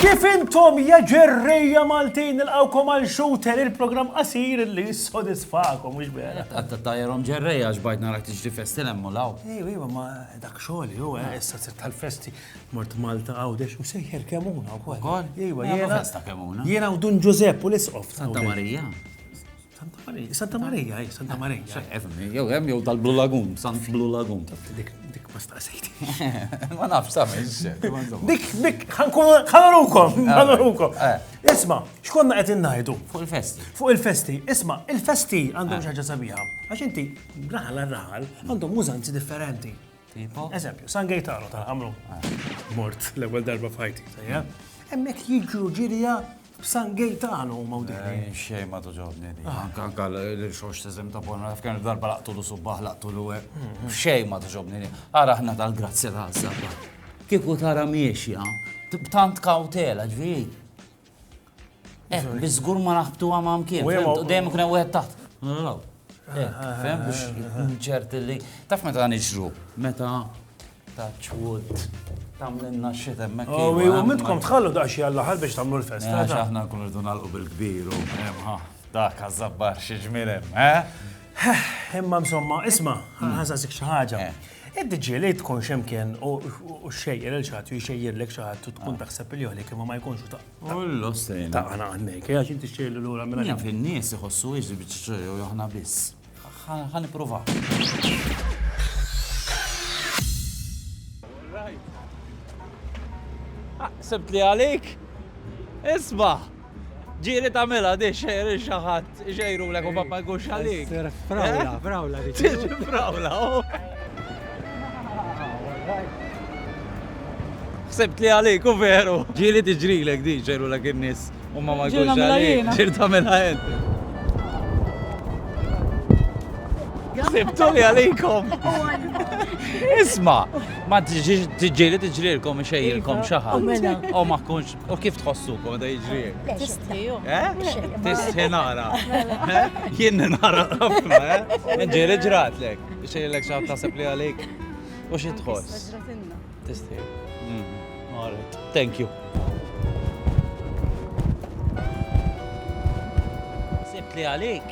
Kif intom ja ġerrija Maltin nilqawkom għal shooter il-programm qasir li jissodisfakom mhux vera. Għatta tajrom ġerrija x'bajt narak tiġri festi lemmu law. Ejwa, ejwa, ma dak xogħol jew eh, issa tal-festi. Mort Malta, Għawdex, u sejjer Kemuna wkoll. Ukoll? Iva, Għamlu jiena. festa Kemuna. Jiena u Dun Ġużepp u l-isqof. ta' Santa Għawdex. Marija. Santa Marija, Santa Marija, eh, Santa Marija. Efni, Jew hemm jew tal-Blue Lagoon, Sant Blue Lagoon. Dik, dik ma staqsejt. Ma nafx sa minn xejn. imma insomma. Dik, dik, ħankunu, ħanurukom, ħanurukom. Eh. Isma, xkonna qed innajdu? Fuq il-festi. Fuq il-festi, isma, il-festi għandhom xaġa sabiħa. Għax inti, raħal għal raħal, għandhom użanzi differenti. Tipo? Eżempju, San Gaetano tal-ħamru. Ah. Mort l-ewwel darba f'ħajti. Hemmhekk jiġru ġirja San Gaetano u mawdini. Eh, xej ma tuġobni di. Ah. Anka anka l-xox tizem ta' bonna, fkan darba laqtu l subbaħ laqtu l għek. Mm-hmm. Xej ma tuġobni di. Ara ħna tal-grazzja ta' sabba. Kiku tara miexja, b'tant kautela ġviri. Eh, biżgur ma naħbtu għama mkien. U dejjem kien wieħed taħt. Eh, fem biex nċert li. Taf meta nixru, meta touch wood. Tamlinna xit emmek. U oh, eh, mitkom tħallu daqxie għall-ħal biex tamlu l-festa. Eh, aħna kun rridu nalqu bil-kbir u dak għazzabbar xieġmirem, eh? Imma msomma, isma, ħazasik xaħġa. Id-dġiel irid tkun x'imkien u xxejjer il xi ħadd u jxejjirlek xi ħadd u tkun taħseb li għalik imma ma jkunx u taq. Ullu sejn. Taqana għandek, għax inti xxejjirli lura minn. Jaf in-nies iħossu hiex il-biċċa jew aħna biss. Ħa nippruvaw. Sibt li għalik? Isma'! Ġieli tagħmilha di xejr il xi ħadd ixejrulek u mbagħad ma jkunx għalik. Sir frawla, frawla dik. Tiġi frawla, oh. Ħsibt li għalik u veru. Ġieli tiġrilek di xejrulek in-nies u ma ma jkunx għalik. Ġieli tagħmilha int. Sibtu li għalikom. Isma, ma tiġieli tiġrilkom xejrkom xi ħadd. U ma kunx U kif tħossukom meta jiġri hekk? Le, Tistħi, ju. Eh? Xejn. Tistħi nara. Eh? Jien nara ħafna, eh? Ġieli ġratlek. Xejlek xaħat tasib li għalik. U xi tħoss? Ġratilna. Tistħi. Mm. All right. Thank you. Sibt li għalik.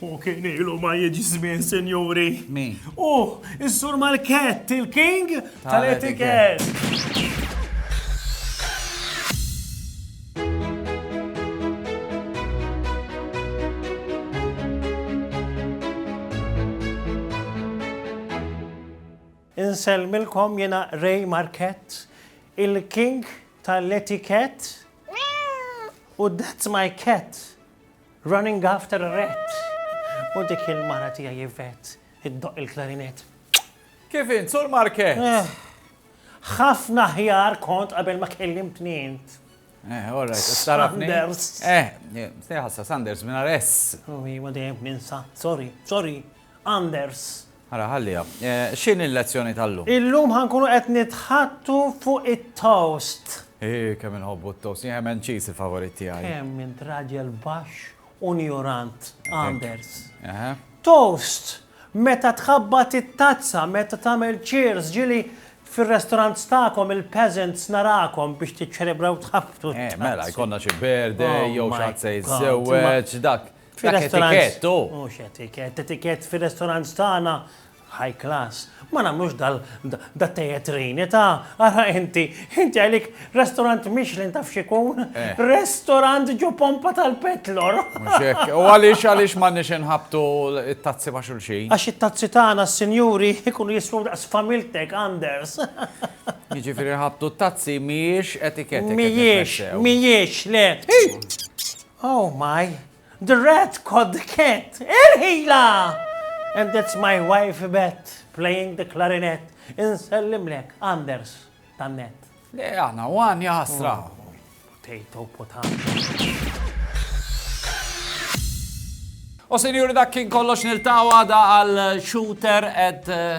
Hu kien ilu ma jiġi żmien, sinjuri. Min? Hu, is-sur Malkett, il-king tal-etikett. Insellmilkom jena Ray Marquette, il-king tal-etiket. U that's my cat. Running after a rat U dik il-mara tiegħi Yvette iddoqq il-klarinett. Kif int, Sur Market? Eh, ħafna ħjar kont qabel ma kellimtni int. Eh, all right, tarafni. Sanders. Eh, eh stejħassa, Sanders, minna res. Uwi, oh, ma dejjem ninsa, sorry, sorry, Anders. Ara, ħalliha. X'inhi l-lezzjoni tal-lum? Illum ħa nkunu qed nitħaddtu fuq it-toast. Eeh, kemm inħobbu t-toast. Jien ham and cheese il-favorit tiegħi. Kemm int raġel baxx u njurant, Anders. Toast! Meta tħabbat it-tazza, meta tagħmel cheers, ġieli fir-restaurants tagħkom il-peasants narakom biex tiċċelebraw tħabbtu t-tazza. Mela, jkollna xi birthday jew xi ħadd se jiżżewweġ, dak. Dak etikett, oh. Mhux etikett, etikett fir-restaurant tagħna high class. Ma nagħmlux dal da tejetrini ta' ara inti, inti għalik restaurant Michelin taf xikun, eh. restaurant ġo pompa tal-petlor. U għaliex għaliex ma nix inħabtu it-tazzi ma' xulxin. Għax it-tazzi tagħna s-sinjuri ikunu jisfu daqs familtek Anders. Jiġifieri ħabtu t-tazzi mhijiex etiketta. Mhijiex, mhijiex le. Oh my, the rat caught the cat! Irħila! And it's my wife Yvette playing the clarinet. Insellimlek, Anders, tan-net. Le, għana, għan jaħasra. Oh, potato, potato. U senjuri dak kien kollox niltawa da għal shooter at eh,